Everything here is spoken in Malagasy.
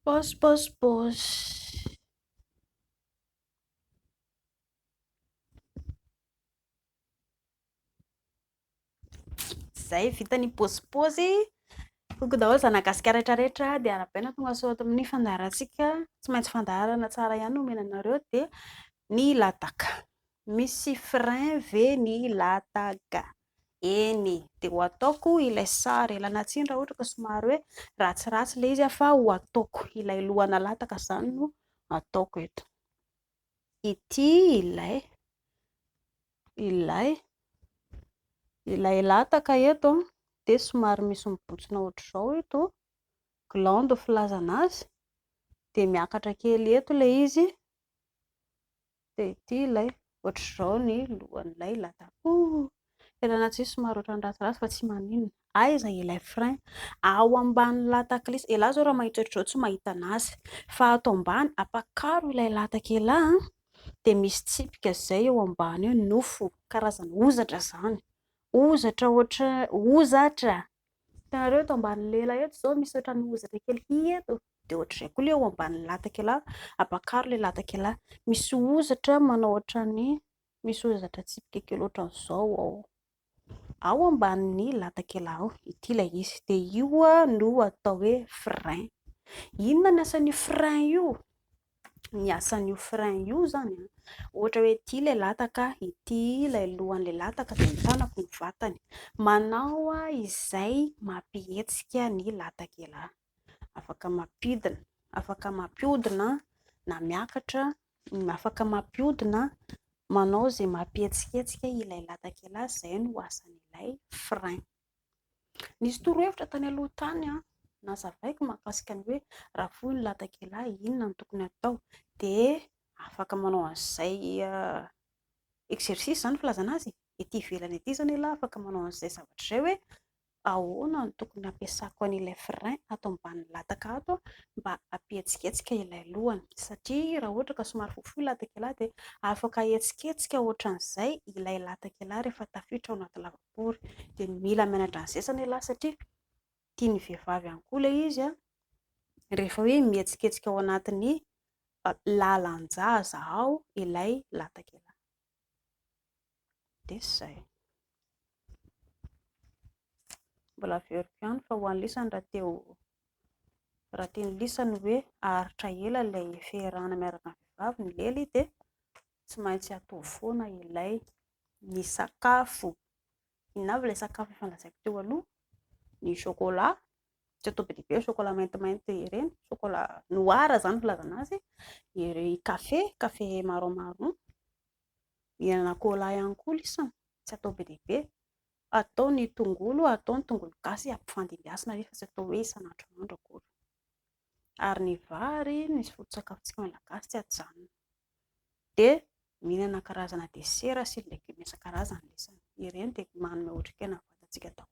Boss, boss, boss. Zay vita ny pôzipôzy. Toko daholo zanagasikara rehetra rehetra dia arabaina tonga sao ato amin'ny fandaharantsika. Tsy maintsy fandaharana tsara ihany no omena anareo dia ny lataka. Misy frein ve ny lataka? Eny, dia ho ataoko ilay sary elana tsiny raha ohatra ka somary hoe ratsiratsy ilay izy fa ho ataoko ilay lohana lataka izany no ataoko eto. Ity ilay ilay ilay lataka eto dia somary misy mibontsina ohatr'izao eto gland filazana azy dia miakatra kely eto ilay izy Dia ity ilay, ohatr'izao ny lohan'ilay lataboy, tena na tsia somary ohatran'ny ratsiratsy fa tsy maninona. Aiza ilay frein? Ao ambanin'ny latak'lisy. Elah izao raha mahita ohatr'izao tsy mahita an'azy. Fa ato ambany, ampakaro ilay lataka elah an! Dia misy tsipika izay eo ambany eo, nofo, karazana ozatra izany. Ozatra ohatran'ny, ozatra! Hitanareo eto ambanin'ilay elah eto izao misy ohatran'ny ozatra kely, hihi eto. dia ohatr'izay koa ilay eo ambanin'ny latakela, ampakaro ilay latakela, misy hozatra manao ohatran'ny misy hozatra tsipika kely ohatran'izao ao ao ambanin'ny latakela ao, ity ilay izy, dia io no atao hoe frein, inona ny asan'io frein io? ny asan'io frein io izany an, ohatra hoe ity ilay lataka, ity ilay lohan'ilay lataka, dia ny tanako no vatany, manao izay mampihetsika ny latakela. afaka mampidina, afaka mampiodina na miakatra, afaka mampiodina, manao izay mampihetsiketsika ilay latak'ila, izay no asan'ilay frein. Nisy torohevitra tany aloha tany nazavaiko mahakasika ny hoe raha foy ny latak'ila inona no tokony atao dia afaka manao an'izay exercice izany filazana azy e, ety ivelany ety izany ialahy afaka manao an'izay zavatra izay hoe Ahoana no tokony hampiasako an'ilay frein ato ambanin'ny lataka ato mba hampihetsiketsika ilay lohany? Satria raha ohatra ka somary fohifohy ilay latakelahy dia afaka ahetsiketsika ohatran'izay ilay latakelahy rehefa tafiditra ao anaty lavapory. Dia mila mianatra ny zezany ialahy satria tian'ny vehivavy ihany koa ilay izy rehefa hoe mihetsiketsika ao anatin'ny lalan-jaza ao ilay latakelahy. Dia izay. Mbola averiko ihany fa ho an'ny lisany raha te ho raha tian'ny lisany hoe haharitra ela ilay fiarahana miaraka amin'ny vehivavy ny lely dia tsy maintsy ataovy foana ilay ny sakafo. Inona avy ilay sakafo efa lazaiko teo aloha? Ny chocolat, tsy atao be dia be ny chocolat maintimainty ireny, chocolat noir izany no filazana azy, ery kafe, kafe marron marron, mihinana cola ihany koa lisany, tsy atao be dia be, atao ny tongolo, atao ny tongolo gasy ampifandimbiasina anie fa tsy atao hoe isan'andro isan'andro akory, ary ny vary ny foto-tsakafontsika malagasy tsy ajanona, dia mihinana karazana desera sy ny legioma isan-karazany lisany, ireny dia manome otrikaina ny vatantsika daholo.